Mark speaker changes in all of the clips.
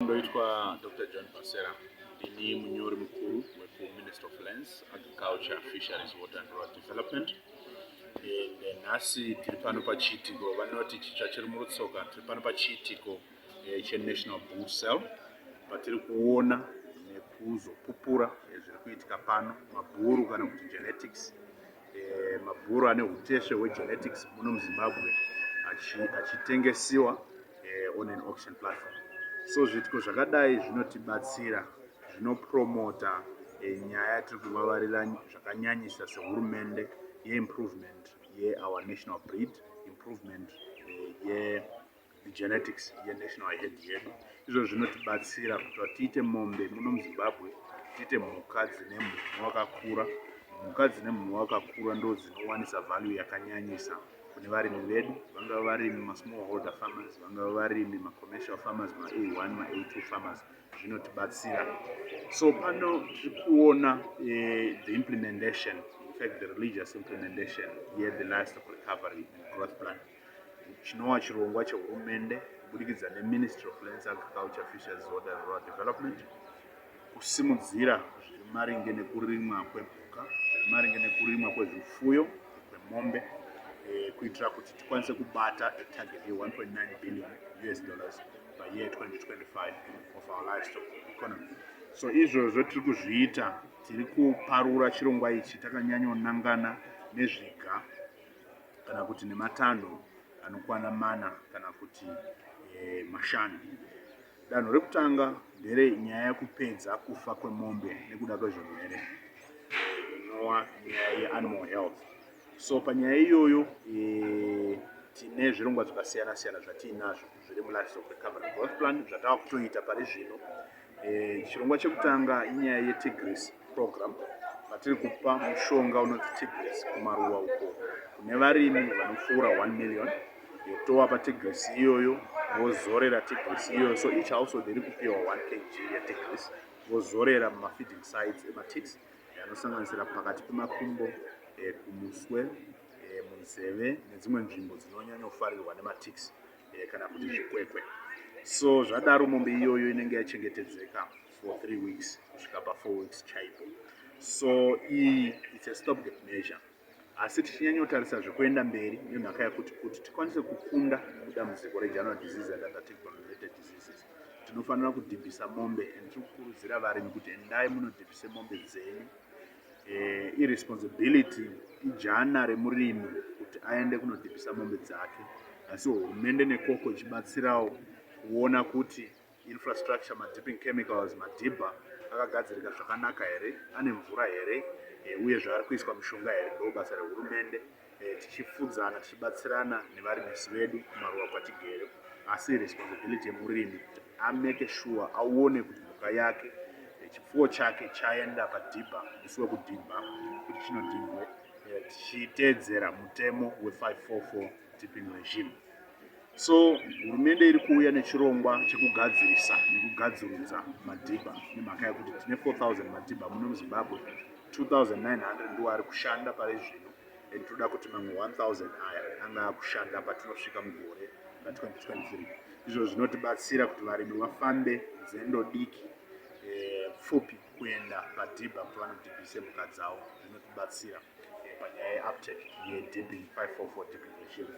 Speaker 1: Ndoitwa Dr. John Pasera, ndini munyori mukuru wekuMinist of Lands, Agriculture, Fisheries, Water and Rural Development. Eh, nhasi tiri pano pachiitiko vanoti chitsva chiri murutsoka tiri pano pachiitiko eh, chenational bull cell patiri kuona nekuzopupura eh, zviri kuitika pano mabhuru kana kuti genetics e, mabhuru ane utesve hwegenetics muno muzimbabwe achitengesiwa achi e, eh, on an auction platform so zviitiko zvakadai zvinotibatsira zvinopromota e, nyaya yatiri kuvavarira zvakanyanyisa sehurumende yeimprovement yeour national breed improvement e, ye genetics yenational head yedu izvo zvinotibatsira kuti tiite mombe muno muzimbabwe tiite mhuka dzine mhumhu wakakura mhuka dzine mhumhu wakakura ndo dzinowanisa value yakanyanyisa kune varimi vedu vangava varimi masmall holder farmers vangava varimi macommercial farmers ma a one ma a two farmers zvinotibatsira so pano tiri kuona eh, the implementation in fact the religious implementation ye the livestock recovery and growth plan chinova chirongwa chehurumende kubudikidza neministry of lands agriculture fisheries water rural development kusimudzira zviri maringe nekurimwa kwemhuka zviri maringe nekurimwa kwezvifuyo kwemombe eh, kuitira kuti tikwanise kubata etarget ye1.9 billion us dollars by year 2025 of our livestock economy so izvozvo tiri kuzviita tiri kuparura chirongwa ichi takanyanyonangana nezviga kana kuti nematanho anokwana mana kana kuti e, mashanu. Danho rekutanga ndere nyaya yekupedza kufa kwemombe nekuda kwezvirwere inova nyaya yeanimal health. So panyaya iyoyo e, tine zvirongwa zvakasiyana siyana zvatiinazvo zviri mulivestock recovery growth plan zvatava kutoita pari zvino Eh, chirongwa chekutanga inyaya yetigris program vatiri kupa mushonga unonzi tigris kumaruwa uko kune varimi vanopfuura 1 million yotowa patigris iyoyo vozorera tigris iyoyo so each household iri kupiwa 1 kg yetigris vozorera mumafeeding sides ematix anosanganisira pakati pemakumbo eh, kumuswe eh, munzeve nedzimwe nzvimbo dzinonyanyofarirwa nematix eh, kana kuti zvikwekwe so zvadaro mombe iyoyo inenge yachengetedzeka for three weeks kusvika pafour weeks chaipo so iyi its a stop gap measure asi tichinyanyotarisa zvekuenda mberi nemhaka yakuti kuti tikwanise kukunda dambudziko regeneral disease and other technical related diseases tinofanira kudhibhisa mombe and tiri kukurudzira varimi kuti endai munodhibhise mombe dzenyu Eh, irresponsibility ijana remurimi kuti aende kunodhibhisa mombe dzake asi hurumende nekoko ichibatsirawo kuona kuti infrastructure madipping chemicals madhibha akagadzirika zvakanaka here ane mvura here eh, uye zvaari kuiswa mishonga here ndoo basa rehurumende eh, tichifudzana tichibatsirana nevarimisi vedu kumaruwa kwatigere asi responsibility yemurimi ameke shuwa aone kuti mhuka yake eh, chipfuwo chake chaenda padhibha musi wekudhibha kuti chinodhibhwe eh, tichiteedzera mutemo we544 tipping regime So hurumende iri kuuya nechirongwa chekugadzirisa nekugadzirudza madhibha nemhaka yekuti tine 4000 madhibha muno muzimbabwe 2900 ndiwo ari kushanda pari zvino and toda kuti mamwe 1000 aya ange akushanda patinosvika mugore ra 2023 izvo zvinotibatsira kuti varimi vafambe nzendo diki eh, pfupi kuenda padhibha kuti vanodhibhise mhuka dzavo zvinotibatsira panyaya yeuptake yedb 544 deprivation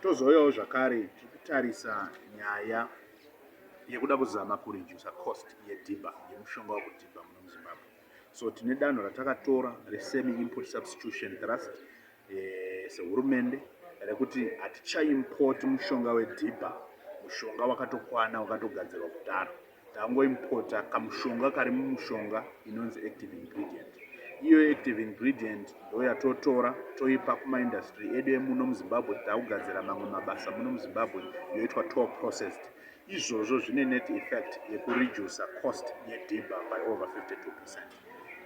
Speaker 1: tozouyawo zvakare tiri kutarisa nyaya yekuda kuzama kuredusa cost yedhiba yemushonga wekudhibha muno muzimbabwe so tine danho ratakatora resemi import substitution trust eh, sehurumende rekuti hatichaimpoti mushonga wedhibha mushonga wakatokwana wakatogadzirwa kudaro Tangoimporter kamushonga kari mumushonga inonzi active ingredient. Iyo active ingredient ndoyatotora toipa kuma industry edu emuno muZimbabwe kuti takugadzira mamwe mabasa muno muZimbabwe yoitwa to processed. Izvozvo zvine net effect yekureducer cost yedhibha by over 52%.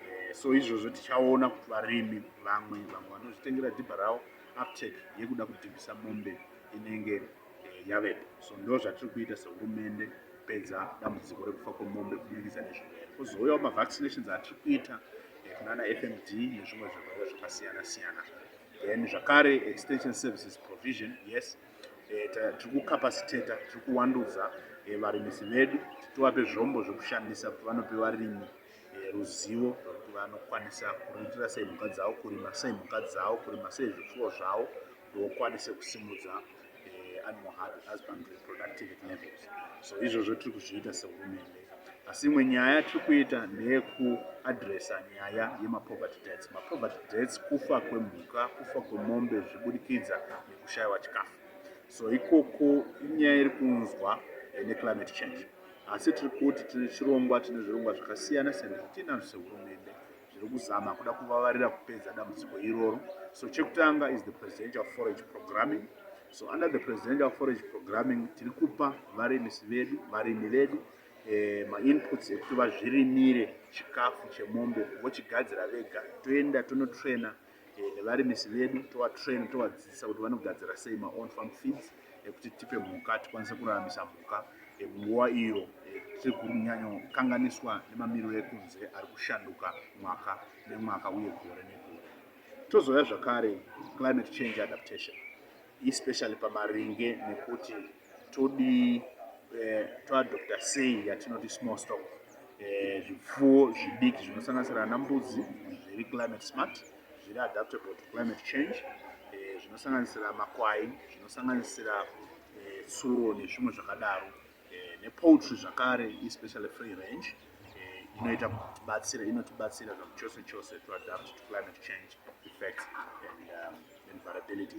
Speaker 1: Eh, so izvozvo tichaona kuti varimi vamwe vamwe vanozvitengera dhibha ravo uptake yekuda kudhibhisa mombe inenge eh, yavepo so ndo zvatiri kuita sehurumende kupedza dambudziko rekufa kwemombe kubudikidza nezvirwere kozouyawo mavaccinations atiri kuita eh, kunana fmd nezvimwe zvirwere zvakasiyana siyana then zvakare extension services provision yes eh, tiri kucapacitata tiri kuwandudza varimisi vedu tiwape zvombo zvekushandisa kuti vanope varimi ruzivo rwekuti vanokwanisa kuriritira sei mhuka dzavo kurima sei mhuka dzavo kurima sei zvipfuwo zvavo ukwanise kusimudza eh, animal heart and husband reproductivity levels so izvozvo tiri kuzviita sehurumende asi imwe nyaya tiri kuita ndeyekuadresa nyaya yemapoverty deaths mapoverty deaths kufa kwemhuka kufa kwemombe zvichibudikidza nekushayiwa chikafu so ikoko inyaya iri kunzwa eh, neclimate change asi tiri kuti tine chirongwa tine zvirongwa zvakasiyana siyana zvatinazvo sehurumende zviri kuzama kuda kuvavarira kupedza dambudziko iroro so chekutanga is the presidential forage programming so under the presidential forage programming tiri kupa varimisi vedu varimi vedu eh, mainputs ekuti vazvirimire chikafu chemombe vochigadzira vega toenda tonotraina eh, nevarimisi vedu tovatrain tovadzidzisa kuti vanogadzira sei maown farm feeds ekuti tipe mhuka tikwanise kuraramisa mhuka munguva iyo tiri kunyanyokanganiswa nemamiriro ekunze ari kushanduka mwaka nemwaka uye gore negore tozouya zvakare climate change adaptation especially pamaringe nekuti todii eh, toadopta sei yatinoti small stock eh, zvipfuwo eh, zvidiki zvinosanganisira ana mbudzi zviri climate smart zviri adaptable to climate change eh, zvinosanganisira eh, makwai zvinosanganisira eh, tsuro eh, nezvimwe zvakadaro eh, nepoultry zvakare especially free range inoita kutibatsira inotibatsira zvakuchose chose to adapt to climate change effects and um, vulnerabilities